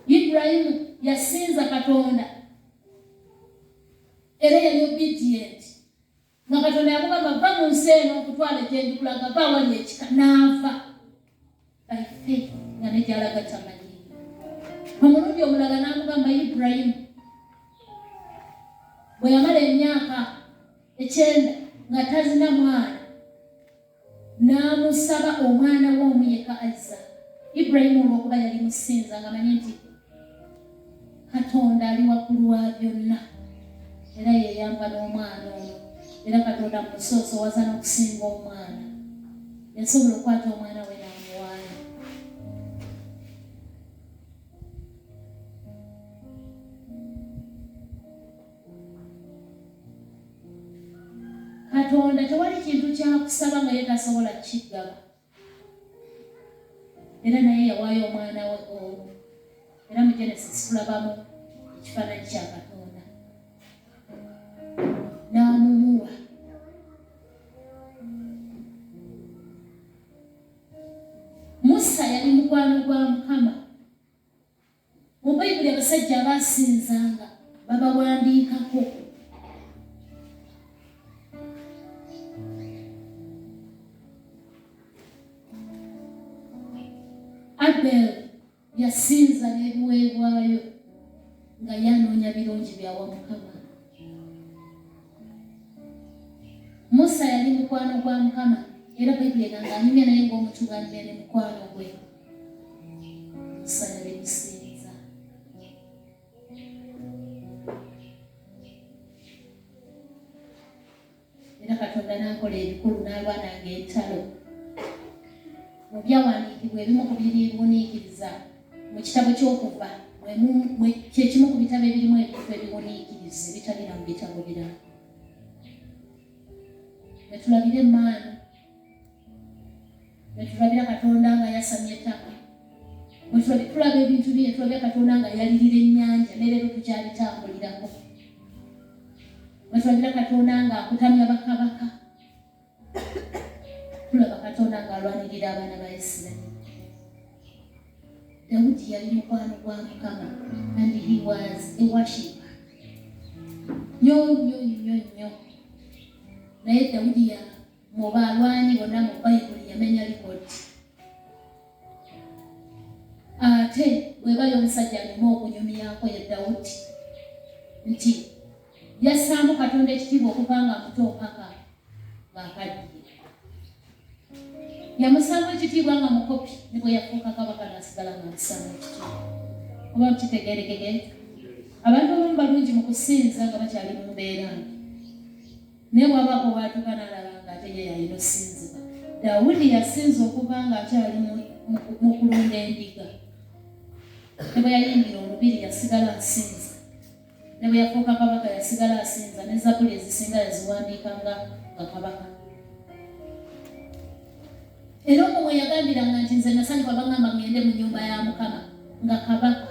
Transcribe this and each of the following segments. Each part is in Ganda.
Ibulayimu yasinza Katonda era yali obedient nga Katonda yamugamba va mu nsi eno okutwala egyendikulaga va awali ekika n'ava by faith nga negyalaga kyamanyi omulundi omulala n'amugamba Ibulayimu bwe yamala emyaka ekyenda nga tazina mwana n'amusaba omwana we omu yekka Azza. Ibrahimu olw'okuba yali musinza ng'amanyi nti Katonda ali waggulu wa byonna era yeyamba n'omwana ono era Katonda mumusoosowaza n'okusinga omwana yasobola okukwata omwana we n'amuwaayo. katonda tewali kintu kyakusaba nga ye tasobola kukigaba era naye yawaayo omwana we omu era mu genesis tulabamu ekifaananyi kya katonda n'amumuwa musa yali mukwano gwa mukama Mu Bayibuli abasajja abaasinzanga babawandiikako. Abel yasinza n'ebiweebwayo nga yanoonya birungi byawa Mukama. Musa yali mukwano gwa Mukama era Bayibuli egamba anyumya naye ng'omutubanira ne mukwano gwe. katonda n'akola ebikulu n'alwananga entalo mu byawandiikibwa ebimu ku biriwuniikiriza mu kitabo ky'okuva kyekimu ku bitabo ebirimu ebintu ebiwuniikiriza ebitabira mu bitabo birala wetulabire emaanu netulabira katonda nga yasamya ettaka tulaba ebintu bye netulabira katonda nga yalirira ennyanja nereero tukyalitambulirako netulabira katonda nga akutamya bakabaka tulaba katonda nga alwanirira abaana ba isirairi dawudi yali mukwano gwa mukama and he was a worshiper nyo nyo nyo nyo naye dawudi ya Mu balwanyi bonna mu Bayibuli yamenya likodi. Ate webali omusajja alina okunyumyako ye Dawudi nti yassaamu Katonda ekitiibwa okuva nga muto mpaka ng'akaddiye. Yamusaamu ekitiibwa nga mukopi ne bwe yafuuka kabaka n'asigala nga musaamu ekitiibwa. Oba kitegeerekeke? Abantu abamu balungi mu kusinza nga bakyali mu mbeera mbi. Naye bwaba obwatuka nalaba nga ate ye yalina osinzibwa. Dawudi yasinza okuva nga akyali mu kulunda endiga. Ne bwe yayingira olubiri yasigala asinza. Ne bwe yafuuka kabaka yasigala asinza ne zabuli ezisinga yaziwandiika nga nga kabaka. Era omwo mwe yagambiranga nti nze nasanyuka bangamba ngende mu nyumba ya Mukama nga kabaka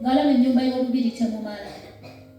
ng'alaba ennyumba y'olubiri temumala.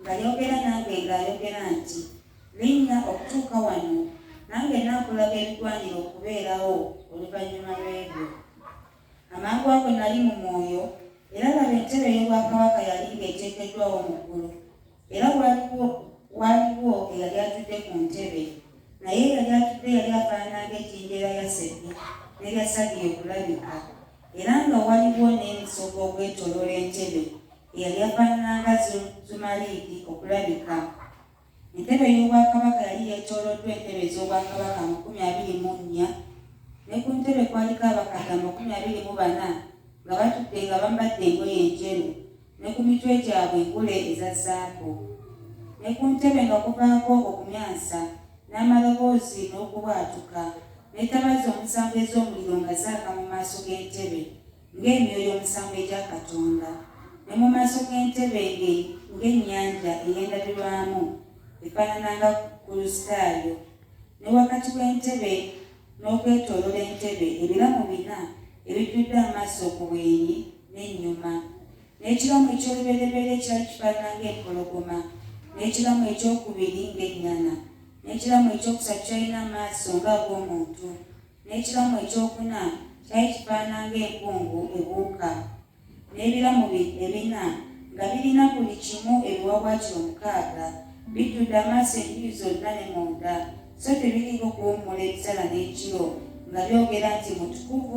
Nga yogera nange nga ayogera nti, Linnya okutuuka wano, nange nnaakulaga ebigwanira okubeerawo oluvannyuma lw'ebyo. Amangu ago nnali mu mwoyo, era laba entebe ey'obwakabaka yali ng'eteekeddwawo mu ggulu, era waaliwo waaliwo eyali atudde ku ntebe, naye eyali atudde yali afaanana ng'ejjinja erya yasepi n'erya sadiyo okulabika, era nga waliwo n'emisogo ogwetooloola entebe. eyali afaanananga Zumariidi okulabika. Entebe y'obwakabaka yali yeetooloddwa entebe ez'obwakabaka amakumi abiri mu nnya, ne ku ntebe kwaliko abakadde amakumi abiri mu bana nga batudde nga bambadde engoye enjeru, ne ku mitwe gyabwe engule eza zaabu. Ne ku ntebe nga kuvaako okumyansa, n'amaloboozi n'okubwatuka, n'etabaza omusanvu ez'omuliro nga zaaka mu maaso g'entebe, ng'emyoyo omusanvu egya Katonda, ne mu maaso g'entebe ye ng'ennyanja ey'endabirwamu efaanana nga Kulusitaayo, ne wakati w'entebe n'okwetooloola entebe ebiramu bina ebijjudde amaaso ku bwenyi n'ennyuma, n'ekiramu eky'olubereberye kyali kifaanana ng'empologoma, n'ekiramu eky'okubiri ng'ennyana, n'ekiramu eky'okusatu kyalina amaaso ng'ag'omuntu. n'ekiramu ekyokuna kyali kifaanana ng'empungu ebuuka, n'ebiramu bye ebina nga birina buli kimu ebiwaawaatiro mukaaga, bijjudde amaaso enjuyi zonna ne munda, so tebiriiko kuwummula emisana n'ekiro, nga byogera nti, Mutukuvu.